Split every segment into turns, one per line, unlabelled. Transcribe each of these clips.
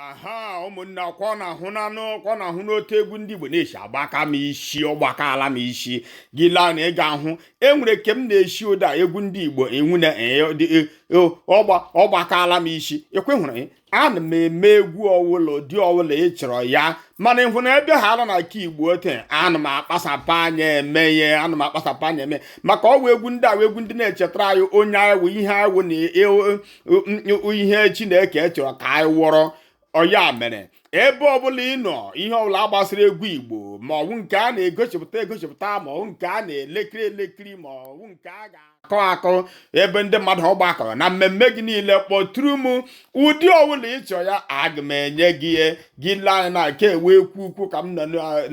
aha ụmụnne ọkwa ọ na-ahụ n'anụ ọkwa ọ na-ahụ n'otu egwu ndị Igbo na-esi agbaka m isi ọ gbakaala m isi gị lee anya ị ga-ahụ enwere ke m na-esi ụda egwu ndị Igbo enwu na e, e, e, ọ gbakaala m isi ekwehụrụ ana m eme egwu ọwụla ụdị ọwụla ị chọrọ ya mana ịhụ na ebe ha ala na nke Igbo ote ana m akpasapụ anya eme ihe ana m akpasapụ anya eme maka ọ wụ egwu ndị a wụ egwu ndị na-echetara anyị onye anyị ihe anyị wụ na ihe chineke chọrọ ka anyị wụrụ ọ ya mere ebe ọbụla ị nọ ihe ọbụla gbasara egwu igbo ma ọwụ nke a na-egosipụta egosipụta ma ọwụ nke a na-elekiri elekiri ma ọwụ nke a ga-akụ akụ ebe ndị mmadụ gbakọrọ na mmemme gị niile kpọtụrụ m ụdị ọbụla ị chọrọ ya aga m enye gị ya gị lee anya na nke ewe ekwu ukwu ka m nọ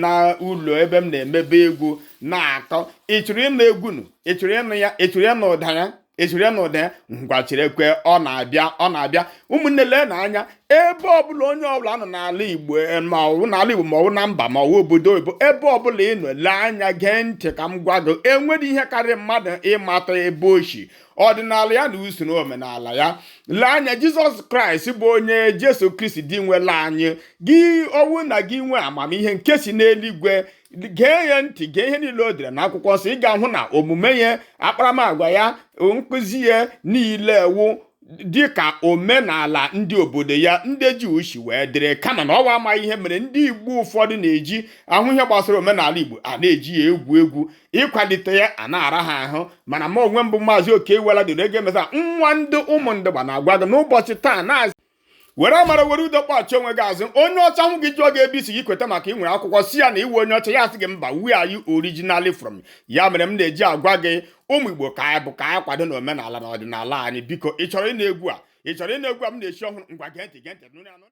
n'ụlọ ebe m na-emebe egwu na-akụ ị chọrọ ịnụ egwu nụ ị chọrọ ịnụ ya ị chọrọ ịnụ ụda ya ị chọrọ ịnụ ụda ya ngwa cherekwe ọ na-abịa ọ na-abịa ụmụnne leenụ anya ebe ọbụla onye ọbụla nọ n'ala igbo eh, ma ọwụ n'ala igbo ma ọwụ na mba ma ọwụ obodo oyibo ebe ọbụla ị nọ lee anya gee ntị ka m gwa gị enwere ihe karịrị mmadụ ịmata ebe o shi ọdịnala ya na usoro omenala ya lee anya jizọs kraịst bụ onye jesu kristi Dinwenụ anyị gị ọ wụ na gị nwee amamihe nke si n'eluigwe gee ya ntị gee ihe niile o dere na akwụkwọ nsọ ị ga-ahụ na omume ya akparamagwa ya nkụzi ya niile wụ dị ka omenala ndị obodo ya ndị Juu si wee dịrị kama na ọ wụ amaghị ihe mere ndị Igbo ụfọdụ na-eji ahụ ihe gbasara omenala Igbo a na-eji ya egwu egwu ịkwalite ya a na-ara ha ahụ mana mụ onwe m bụ maazị Okeiwela doro ego emesa nwa ndị Ụmụndugba na-agwa gị n'ụbọchị taa na-azụ were amara were udo kpọchie onwe gị azụ onye ọcha hụ gị jụọ gị ebe i si gị kweta maka ị nwere akwụkwọ sị ya na ị wụ onye ọcha ya asị gị mba where are you originally from ya mere m na-eji agwa gị ụmụ igbo ka anyị bụ ka anyị kwadonụ omenala na ọdịnala anyị biko ị chọrọ ịnụ egwu a ị chọrọ ịnụ egwu a m na-esi ọhụrụ ngwa gee ntị gee ntị nụrụ ya nụ.